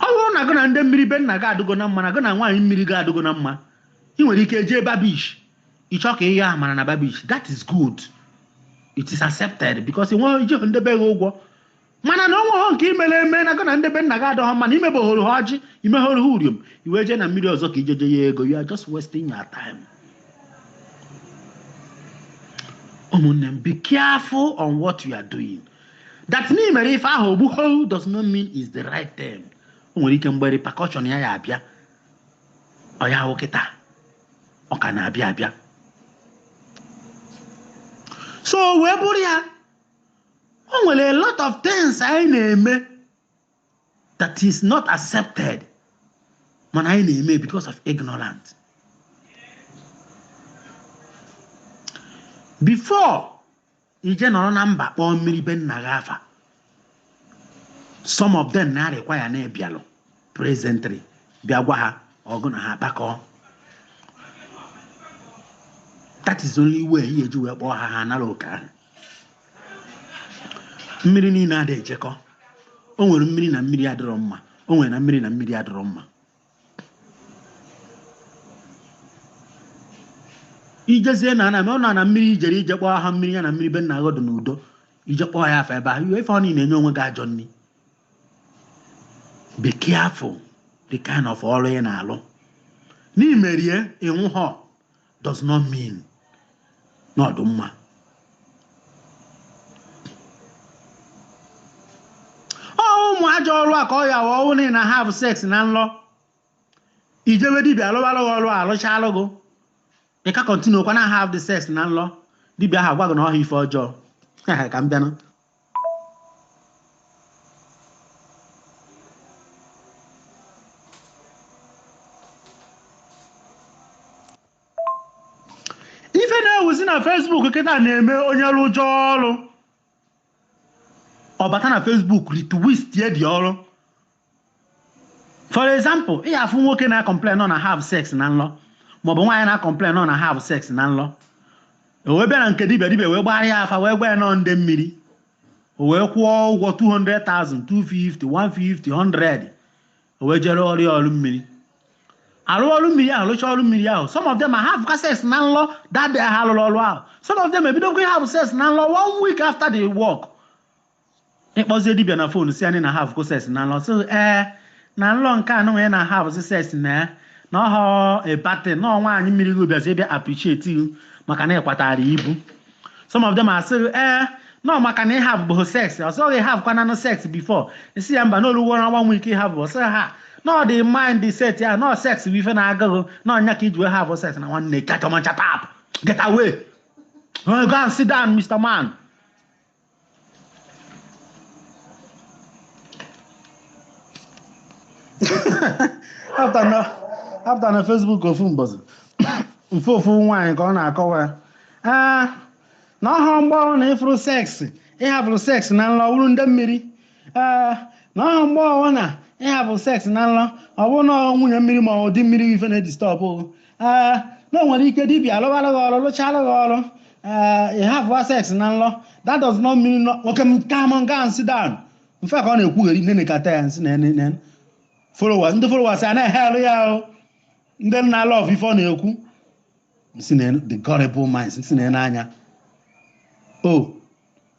ọ bụrụ na gị na ndị mmiri be nna gị adịgo na mma na gị na nwaanyị mmiri gị adịgo na mma ị nwere ike jee Bar Beach ịchọ ka ihe ahụ mara na Bar Beach that is good it is accepted because ị nweghị iji ndị be gị ụgwọ mana na onweghị nke imere eme na gị na ndị be nna gị adọghọ mma na imebehoro ha ọjị imehoro ha uriom i wee jee na mmiri ọzọ ka ijeje ya ego you are just wasting your time ụmụnne m be careful on what you are doing that na i mere ife ahụ o gbuho does not mean is the right thing o nwere ike mgbe repercussion ya ya abịa ọ ya ahụ kịta ọ ka na-abịa abịa so wee bụrụ ya o nwere a lot of things anyị na-eme that is not accepted mana anyị na-eme because of ignorance before ị jee nọrọ na mba kpọọ mmiri be nna gị afa some of them na-arequire na ị bịalụ presently bịa gwa ha gị na ha kpakọọ that is only way ị ya-eji wee kpọọ ha ha nara oke ahụ mmiri niile adịghị ejekọ o nwere mmiri na mmiri adịrọ mma o nwere na mmiri na mmiri adịrọ mma ị jezie na ana ọ na na mmiri ijere ije kpọọ ha mmiri ya na mmiri be nna gị ahụ dị n'udo ije kpọọ ya afa ebe ahụ iwe ife ọ niile enye onwe gị ajọ nri be careful the kind of ọrụ ị na-alụ na i merie ị nwụhọ does not mean na ọ dị mma ụmụ ajọ ọrụ a ka ọ ya wa ọwụ na ị na have sex na nlọ i jewe dibia alụwalụ gị ọrụ alụchalụ gị ị ka continue kwa na have the sex na nlọ dibia ahụ agwa gị na ọha ife ọjọọ ka m bịanụ ife na-ewuzi na Facebook kịta na-eme onye rụọ ajọ ọrụ ọ bata na Facebook retwistie the ọrụ for example ị afụ nwoke na-acomplain na ọ na have sex na nlọ maọbụ nwaanyị na-acomplain na ọ na have sex na nlọ o wee bịa na nke dibia dibia wee gbara ya afa wee gwa ya na ọ ndị mmiri o wee kwụọ ụgwọ 200,000 250 150 100 o wee jee rụọrọ ya ọrụ mmiri arụ ọrụ mmiri ahụ rụcha ọrụ mmiri ahụ some of them have sex na nlọ that day ha rụrụ ọrụ ahụ some of them ebidokwa have sex na nlọ one week after the work ị kpọzie dibịa na fon sị ya na ị havụgo sex na nlọ sị ee na nlọ nke a nụnwa ị na-ahavụzi sex na ya na ọhọ ebate na ọ nwaanyị mmiri gị bịazi bịa appreciate you maka na ị kwatara ibu some of them asị ee na ọ maka na ị havụbeghị sex ọ sị gị ị havụkwananụ sex before ị sị ya mba na o luworo ọnwa nwe ike ị havụbụ sị ha na ọ dị mindset ya na sex bụ ife na-agụ gị na ọ nya ka i ji wee havụ sex na nwanne kachama shut up get away go and sit down mr man apụta na facebook ofu mbọsị m fụ ofu nwaanyị ka ọ na-akọwa ya ee na ọ họ mgbe ọbụna ị fụrụ sex ị havụrụ sex na nlọ wụrụ ndị mmiri ee na ọ họ mgbe ọbụna ị havụrụ sex na nlọ ọ bụrụ na ọ nwunye mmiri ma ọ di mmiri ife na-edistọbụ ee na o nwere ike dibia alụwalụ gị ọrụ lụchalụ gị ọrụ ee ị havụ sex na nlọ that does not mean no nwoke m ka m gaa sit down m fụ ka ọ na-ekwugheri m nenekata ya m sị na nne followers ndị followers a na-ehailụ ya ahụ ndị na-alove ife ọ na-ekwu m sị na the gullible minds m sị na n'anya o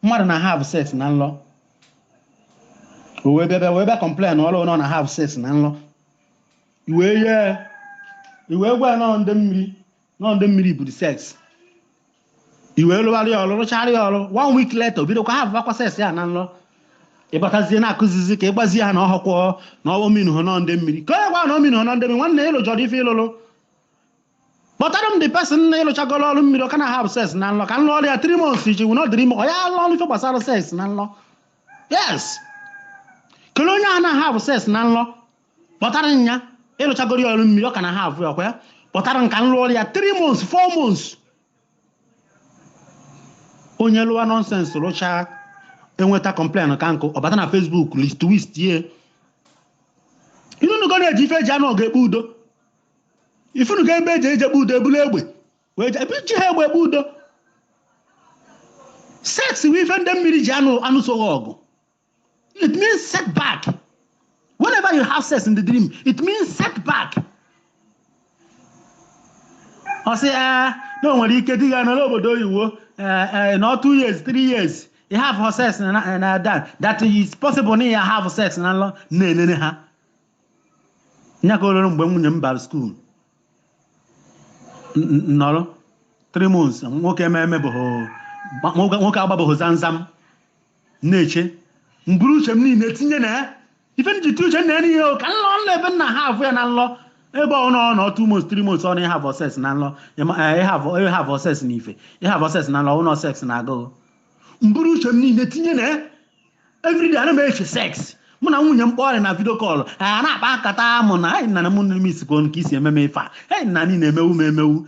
mmadụ na-ahave sex na nlọ o wee bịa bịa wee bịa complainụọrụ na ọ na-ahave sex na nlọ i wee i wee gwa ya na ọ ndị mmiri na ọ ndị mmiri buru sex i wee lụgharịa ya ọrụ rụchara ya ọrụ one week later o bidokwa havụvakwa sex ya na nrọ ị batazie na-akụzizi ka ị gwazi ha na ọ họkwọ na ọ minuhọ na ọ ndị mmiri ka onye gwa na ọ minuhọ na ọ ndị mmiri nwanne ị lụjọrọ ife ị lụlụ kpọtara m the person na ị lụchagoro ọrụ mmiri ọ ka na-ahavụ sex na nlọ ka m lụọrọ ya three months iji wụ n'ọdịrị ime ọ ya alụ ọrụ ife gbasara sex na nlọ yes kelee onye a na-ahavụ sex na nlọ kpọtara m ya ị lụchagoro ya ọrụ mmiri ọ ka na-ahavụ ya ọ kwa ya kpọtara m ka m lụọrọ ya 3 months 4 months onye lụwa nonsense rụchaa enweta complain ka nkụ ọ bata na facebook twist ya ị nụnụgo na e ji ife e ji anụ ọgụ ekpe udo ị fụnụgo ebe e ji e ji ekpe udo e bulu egbe wee je- ebe e ji egbe ekpe udo sex bụ ife ndị mmiri ji anụ anụso gị ọgụ It means setback. Whenever you have sex in the dream, it means setback. Ọ sị ee na o nwere ike di ya nọrọ obodo oyibo eh, eh, na two years, three years, ya havụ sex na na- na that that is possible na ya have sex na nlọ na-enene ha. Nya ka oloro mgbe nwunye m bara school n- n- nọrọ three months nwoke ememe bụ nwoke agbabeghị zamzam na-eche m buru uche m niile tinye na ya ife m ji tinye uche na ya n'ihe o, ka nlọ nlọ ebe m na-ahavụ ya na nlọ ebe ọ nọ ọ nọ two months three months ọ na ịhavọ sex na nlọ ịma- eh, ịhavọ ịhavọ sex na ife ịhavọ sex na nlọ ọ nọ sex na-agụ m buru uche m niile tinye na ya everyday ana m eche sex mụ na nwunye m kpọrọ na video call a na-akpa nkata mụ na anyị nana m nne m isikwo nke isi ememe ife a anyị nna niile emewu m emewu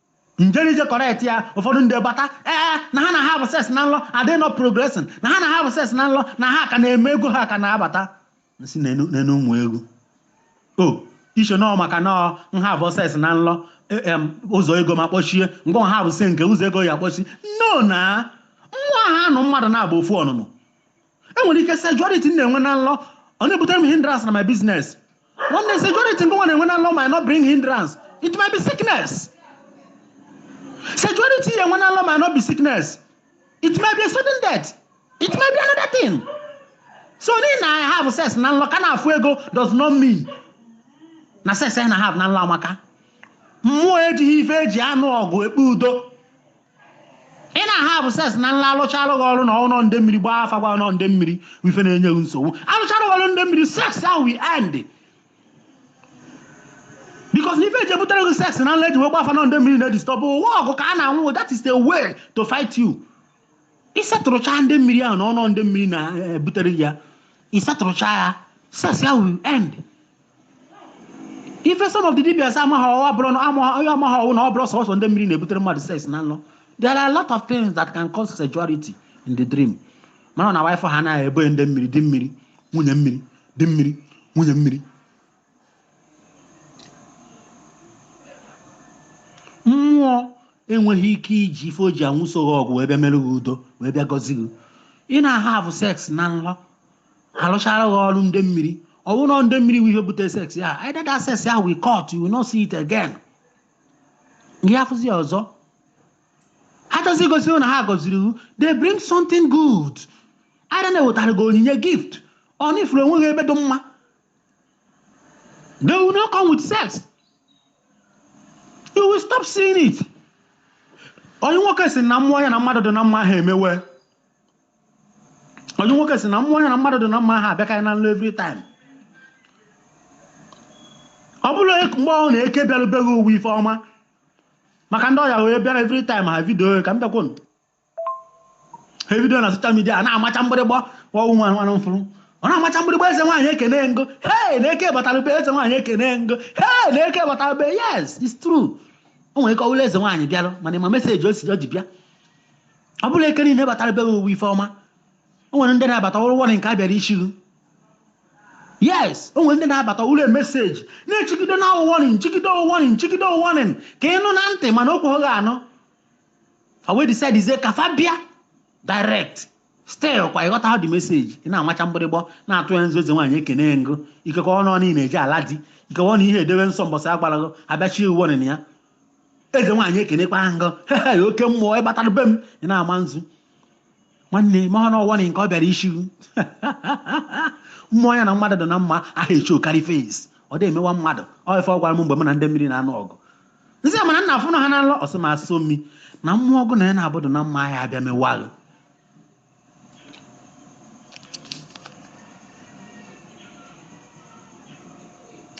njerije correct ya ụfọdụ ndị bata ee na ha na-ahavụ sex na nlọ adị nọ progressing na ha na-ahavụ sex na nlọ na ha ka na-eme ego ha ka na-abata si n'enu ụmụ egwu o iche nọọ maka nọọ m havụ sex na nlọ ụzọ ego m akpọchie ngọ havụ sex nke ụzọ ego ya akpọchi no na nwa ha anụ mmadụ na-abụ ofu ọnụnụ enwere ike sexuality m na-enwe na nlọ ọ na-ebutere m hindrance na my business When the sexuality gị na-enwe na nlọ might not bring hindrance, it might be sickness. Sexuality ị na-enwe na nlọ might not be sickness, it might be a sudden death. It might be another thing. So na ị na-ahavụ sex na nlọ ka na-afụ ego does not mean na sex ị na-ahavụ na nlọ amaka. Mmụọ ejighị ife eji anụ ọgụ ekpe udo. ị na-ahavụ sex na nlọ a lụchaalụ gị ọrụ na ọnọ nde mmiri gbaa afa gwa ọnọ nde mmiri ife na-enye gị nsogbu a lụchaalụ gị ọrụ nde mmiri sex ahụ will end because ife eji ebutere gị sex na nlọ eji wee gba afa nọ nde mmiri na-edistọbụ ụwa ọgụ ka a na-anụ that is the way to fight you ị setụlụcha ndị mmiri ahụ na ọnọ ndị mmiri na-ebutere ya ị setụlụcha ya sex ahụ end ife some of the dibias amaghị ọ wụ abụrụ na amaghị onye amaghị ọ wụ na ọ bụrụ sọsọ ndị mmiri na-ebutere mmadụ sex na nlọ there are a lot of things that can cause sexuality in the dream mana na wife ha na ebe ndị mmiri di mmiri nwunye mmiri di mmiri nwunye mmiri mmụọ enweghị ike iji ife o ji anụso gị ọgụ wee bịa mere gị udo wee bịa gọzie gị ị na-ahavụ sex na nlọ ha rụchara gị ọrụ ndị mmiri ọ bụrụ na ndị mmiri bụ ihe bute sex ya either that sex ya will cut you will not see it again gị afụzi ya ọzọ ha chọzi igosi na ha gọziri iwu they bring something good either na-ewetara gị onyinye gift or na ị fụrụ onwe gị ebe dị mma they will not come with sex you will stop seeing it onye nwoke si na mmụọ ya na mmadụ dị na mma ha emewe onye nwoke si na mmụọ ya na mmadụ dị na mma ha abịakarị na nlọ every time ọ bụla mgbe ọ na eke bịarụ be gị ọ wụ ife ọma maka ndị ọya wee bịara every time ha vidio ka m bịakwunu ha vidio na social media a na-amacha mgbịrịgba ofu nwa nwaanyị m fụrụ ọ na-amacha mgbịrịgba eze nwaanyị ekene ngo hei na eke batarụ be eze nwaanyị ekene ngo hei na eke batarụ be yes it's true o nwere ike ọ wụ na eze nwaanyị bịara mana ị ma message ozi o ji bịa ọ bụrọ eke niile batara be owuwe ife ọma o nwere ndị na-abata ọrụ wọrị nke a bịara ichiru yes o nwere ndị na-abata ụlọ message na-echigide na ọwụwọrị nchigide ọwụwọrị nchigide ọwụwọrị ka ị nụ na ntị mana o kweghị anụ o wee decidezie ka fa bịa direct stel kwa ị ghọta ha the message ị na-amacha mgbịrịgba na-atụ ya nzu eze nwaanyị ekene ngụ ikekọ ọnụ ọ niile eji ala di ikekọ ọnụ ihe edewe nsọ mbọsị agbarago abịachie uwe ọnịna ya eze nwaanyị ekenekwa ngụ hehe oke mmụọ ị batara be m ị na-ama nzu nwanne ma ọ n'ọwa nke ọ bịara isi mmụọ ya na mmadụ dị na mma aha echi okari fes ọ dị emewa mmadụ ọ ife ọ gwara m mgbe m na ndị mmiri na-anụ ọgụ nsị mana nna afụnụ ha na nlọ ọ sị m asụ mmi na mmụọ ọgụ na ya na-abụdụ na mma ahịa abịa mewa gị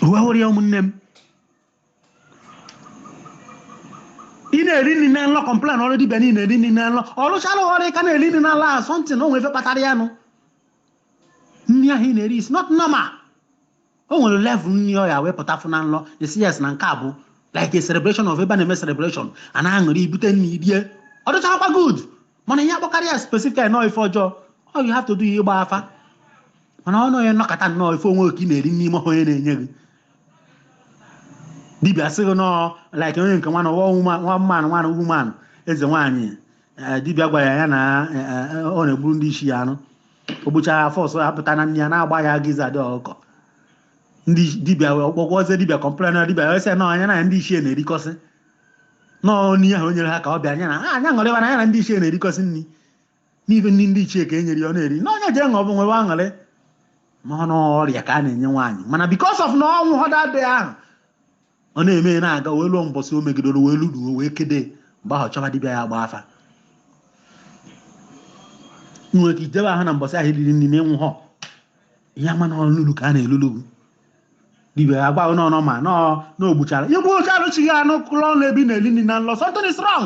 uwe hụrụ ya ụmụnne m ị na-eri nri na nlọ complain ọrụ dibịa niile eri nri na nlọ ọ lụchala ọrụ ị ka na-eri nri na nlọ ahụ something o nwere ife kpatara ya nụ nri ahụ ị na-eri is not normal o nwere level nri ọ ya wee pụta fụ na nlọ ị sị yes na nke a bụ like a celebration of ebe a na-eme celebration a na-aṅụrị i bute nri i rie ọ dịchakwa good mana ihe akpọkarị ya specific na ọ ife ọjọọ ọ you have to do ya ịgba afa mana ọ nọghị nnọkọta nnọọ ife onwe oke ị na-eri n'ime onye na-enye gị dibịa sị gị na ọ like onye nke nwana ọwa nwa mmanụ nwana ugwu mmanụ eze nwaanyị eh, dibịa gwara ya na eh, eh, ọ na-egburu ndị ichie anụ o gbuchara afọ ọsọ ya pụta na nne ya na-agba ya giza dị ọkụkọ ndị dibịa ọ gwagwazie dibịa complain na dibịa wee sị ya na ya na ndị ichie na-erikọsị nọọ n'ihe ahụ o nyere ha ka ọ bịa ya na ha ya aṅụrịwa na ya na ndị ichie na-erikọsị nri n'ife ndị ndị ichie ka e nyere ya ọ na-eri na onye jee ṅụọ nwewe aṅụrị mahọ na ọrịa ka a na-enye nwaanyị mana because of na ọ nwụhọ that day ahụ ọ na-eme na-aga wee luo mbọsị o megidoro wee luduo wee kede mgbe ahụ chọba dibịa ya gba afa nwere ka ijebe ahụ na mbọsị ahụ i riri nri na ị nwụhọ ị ya-ama na ọlụlu ka a na-elulu dibịa ya gbaghị n'ọnọ ma na o gbuchara igbu oche arụchighị anụ kụlọ ọnụ ebi na-eli nri na nlọ something strong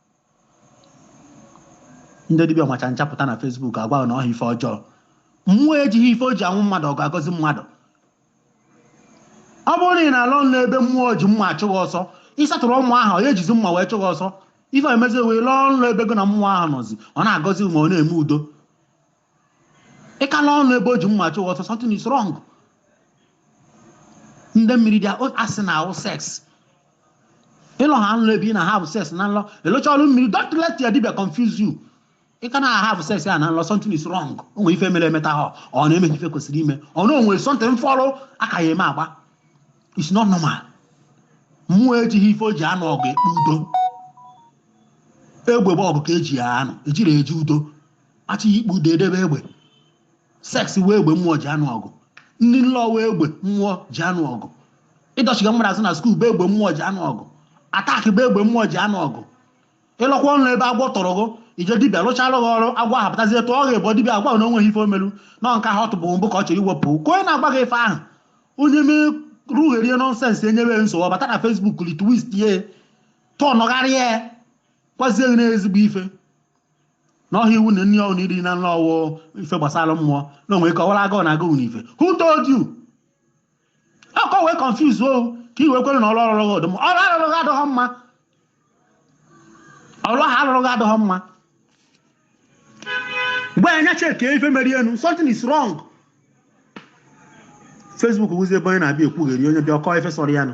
ndị dibịa macha nchapụta na Facebook agwa na ọha ife ọjọọ mmụọ ejighị ife o ji awụ mmadụ ọ ga-agọzi mmadụ ọ bụrụ na ị na-alọ nlọ ebe mmụọ ji mma achụ gị ọsọ ị settlerụ mmụọ ahụ ọ ya-ejizi mma wee chụ gị ọsọ ife emezi wee lọọ nlọ ebe gị na mmụọ ahụ nọzi ọ na-agọzi ma ọ na-eme udo ị ka na-alọ nlọ ebe o ji mma chụwa ọsọ something is wrong ndị mmiri dị asị na have sex ịlọ ha nlọ ebe ị na have sex na nlọ ịlụcha ọrụ mmiri don't let your dibia confuse you ị ka na have sex ya na nlọ something is wrong o nwere ife emere emetahọ na emeghị ife kwesịrị ime ọ na o nwere something fọrọ aka ya eme agba it's not normal mmụọ ejighị ife o ji anụ ọgụ ekpe udo egbe bụ ọgụ ka eji ya anụ ejiri eji udo achọọ ikpe udo edebe egbe sex wụ egbe mmụọ ji anụ ọgụ nri nlọ wụ egbe mmụọ ji anụ ọgụ ịdọchiga mmadụ azụ na school bụ egbe mmụọ ji anụ ọgụ attack bụ egbe mmụọ ji anụ ọgụ ị lọkwa nlọ ebe agwọ tụrụ gị i je dibịa lụchalụ gị ọrụ agwọ ahụ pụtazie tụọ gị bụ dibịa agwa na o nweghị ife o melu na nke ahụ ọ tụbụ mbụ ka ọ chọrọ iwepụ ka onye na-agwa gị ife ahụ onye mee rugherie nonsense enyewe nsogbu ọ bata na Facebook retwist ya tọnụgharịa ya gwazie gị n'ezigbo ife n'ọhịa iwu na nri ọwụ na iri na nri ọwụ ife gbasara mmụọ na o nwere ike ọ wụrụ agụụ na-agụ na ife who told you ọ ka o wee confuse o ka i wee kwere na ọrụ ọ rụrụ gị ọ dị mma ọrụ arụrụ gị adịghị mma ọrụ ahụ arụrụ gị adịghị mma meghe anya checkie ife mere nụ something is wrong Facebook wụzi ebe onye na-abịa ekwugheri onye bịa ọ kọọ ife sọrọ ya nụ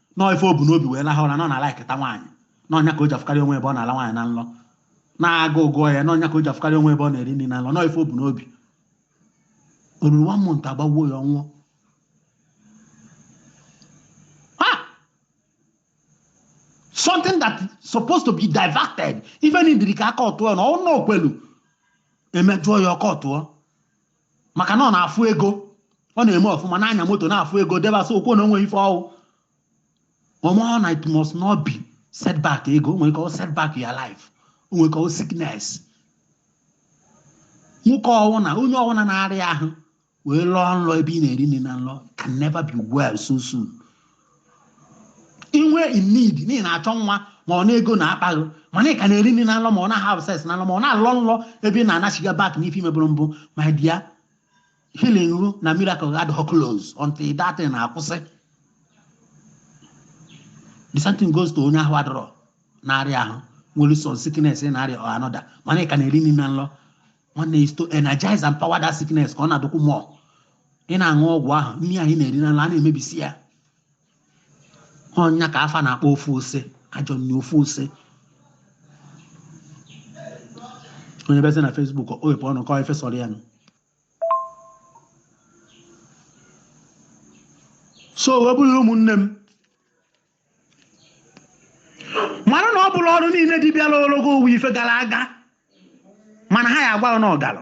na ọ ife o bu n'obi wee laha ụra na ọ na-liketa nwaanyị na ọ ya ka o ji afụkarị onwe ebe ọ na-ala nwaanyị na nlọ na agụụ gụwa ya na ọ ya ka o ji afụkarị onwe ebe ọ na-eri nri na nlọ na ọ ife o bu n'obi o ruru one month agbagbuo ya ọ nwụọ Ah! something that is supposed to be diverted even dịrị ka aka ọtụọ n'ọnụ okwelu emejụọ ya ọkọ ọtụọ maka na ọ na-afụ ego ọ na-eme ọfụma na-anya moto na-afụ ego debasa okwu na o nweghị ife ọwụ ọ mahọ na it must not be setback ego o nwere ike ọ setback your life o nwere ike ọ sickness nwoke ọwụna onye ọwụna na-arịa ahụ wee lọọ nlọ ebe ị na-eri nri na nlọ can never be well so soon i nwee in need na ị na-achọ nwa ma ọ na ego na-akpa gị mana ị ka na-eri nri na nlọ ma ọ na have sex na nlọ ma ọ na-alọ nlọ ebe ị na-anachiga back n'ife i mebụrụ mbụ my dear healing gị na miracle adịghị close until that thing akwụsị the same thing goes to onye ahụ adịrọ na-arịa ahụ nwere some sickness ị na-arịa or another mana ị ka na-eri nri na nlọ nwanne is to energize empower that sickness ka ọ na-adịkwu more ị na-aṅụ ọgwụ ahụ nri ahụ ị na-eri na nlọ ana-emebisi ya ọ ya ka afa na-akpọ ofu ose ajọ nri ofu ose onye bịazi na Facebook o wepụ ọnụ kọọ ife sọrọ ya nụ so wee bụrụ ụmụnne m mara na ọ bụrọ ọrụ niine dibịa lụrụ gị wụ ife gara aga mana ha ya agwa gị na ọ gara